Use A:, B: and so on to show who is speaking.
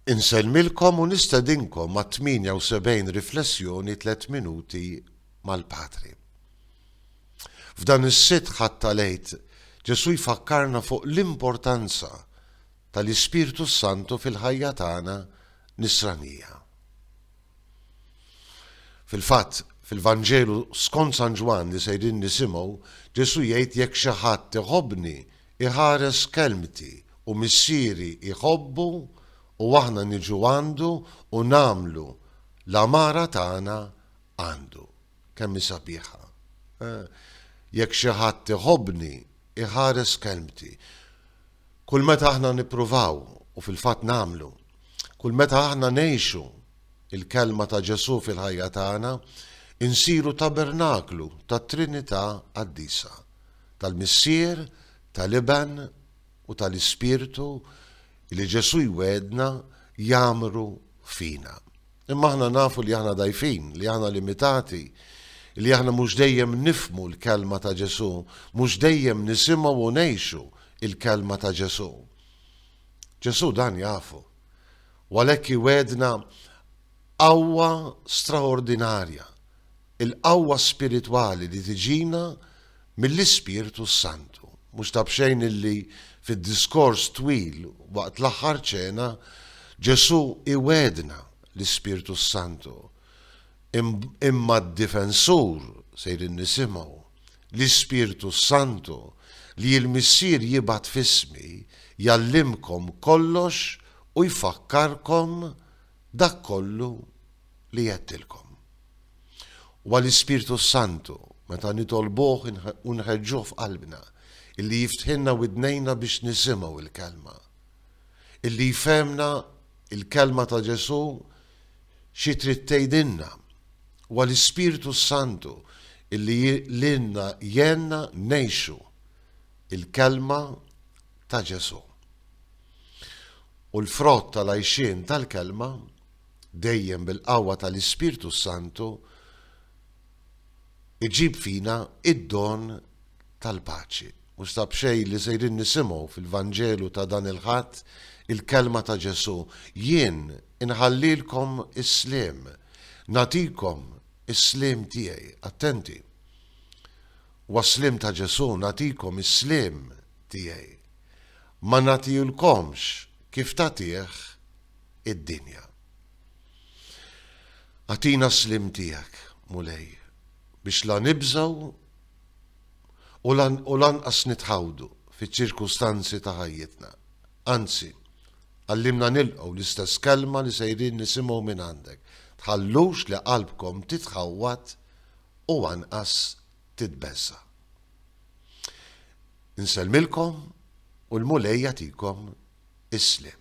A: Insellmilkom u nistedinkom għat-78 riflessjoni Tliet Minuti mal-Patri. F'dan is-Sitt Ħadd tal-Għid, Ġesù jfakkarna fuq l-importanza tal-Ispirtu s-Santu fil-ħajja tagħna Nisranija. Fil-fatt, fil-Vanġelu skont San Ġwann li sejrin nisimgħu, Ġesù jgħid jekk xi ħadd iħobbni, iħares kelmti u Missieri jħobbu u aħna niġu għandu u nagħmlu l-għamara tagħna għandu. Kemm hi sabiħa! Jekk xi ħadd iħobbni, iħares kelmti. Kull meta aħna nippruvaw, u fil-fatt nagħmlu, kull meta aħna ngħixu l-kelma ta' Ġesù fil-ħajja tagħna, insiru tabernaklu tat-Trinità Qaddisa. tal-Missier, tal-Iben u tal-Ispirtu li Ġesù jwegħedna jgħammru fina. Imma aħna nafu li aħna dgħajfin, li aħna limitati, li aħna mhux dejjem nifhmu l-kelma ta' Ġesù, mhux dejjem nisimgħu u ngħixu l-kelma ta' Ġesù. Ġesù dan jafu. U għalhekk iwedna qawwa straordinarja, il-qawwa spiritwali li tiġina mill-Ispirtu s-Santu. Mhux ta' b'xejn illi fid-diskors twil waqt l-Aħħar Ċena, Ġesù iwegħedna l-Ispirtu s-Santu. Imma d-Difensur, sejrin nisimgħu, l-Ispirtu s-Santu, li l-Missier jibgħat f'ismi, jgħallimkom kollox u jfakkarkom dak kollu. li għedtilkom. Huwa l-Ispirtu s-Santu, meta nitolbuh u nħeġġuh f'qalbna, illi jiftħilna widnejna biex nisimgħu l-Kelma. Illi jfehmna l-Kelma ta' Ġesù xi trid tgħidilna. Huwa l-Ispirtu s-Santu illi lilna jgħinna ngħixu l-Kelma ta' Ġesù. U l-frott tal-għajxien tal-Kelma dejjem bil-qawwa tal-Ispirtu s-Santu iġib fina id-don tal-paċi. U sta b'xejn li sejrin nisimgħu fil-Vanġelu ta' dan il-Ħadd il-kelma ta' Ġesù, jien inħallilkom is-sliem, nagħtikom is-sliem tiegħi. Attenti. Huwa s-sliem ta' Ġesù, nagħtikom is-sliem tiegħi. Ma nagħtilkomx kif tagħtih id-dinja. Agħtina s-sliem tiegħek, Mulej, biex la nibżgħu u lanqas nitħawdu fiċ-ċirkustanzi ta' ħajjitna. Anzi, għallimna nilqgħu l-istess kelma li sejrin nisimgħu mingħandek, Tħallux li qalbkom titħawwad u anqas titbeżża'. Insellmilkom u l-Mulej jagħtikom is-sliem.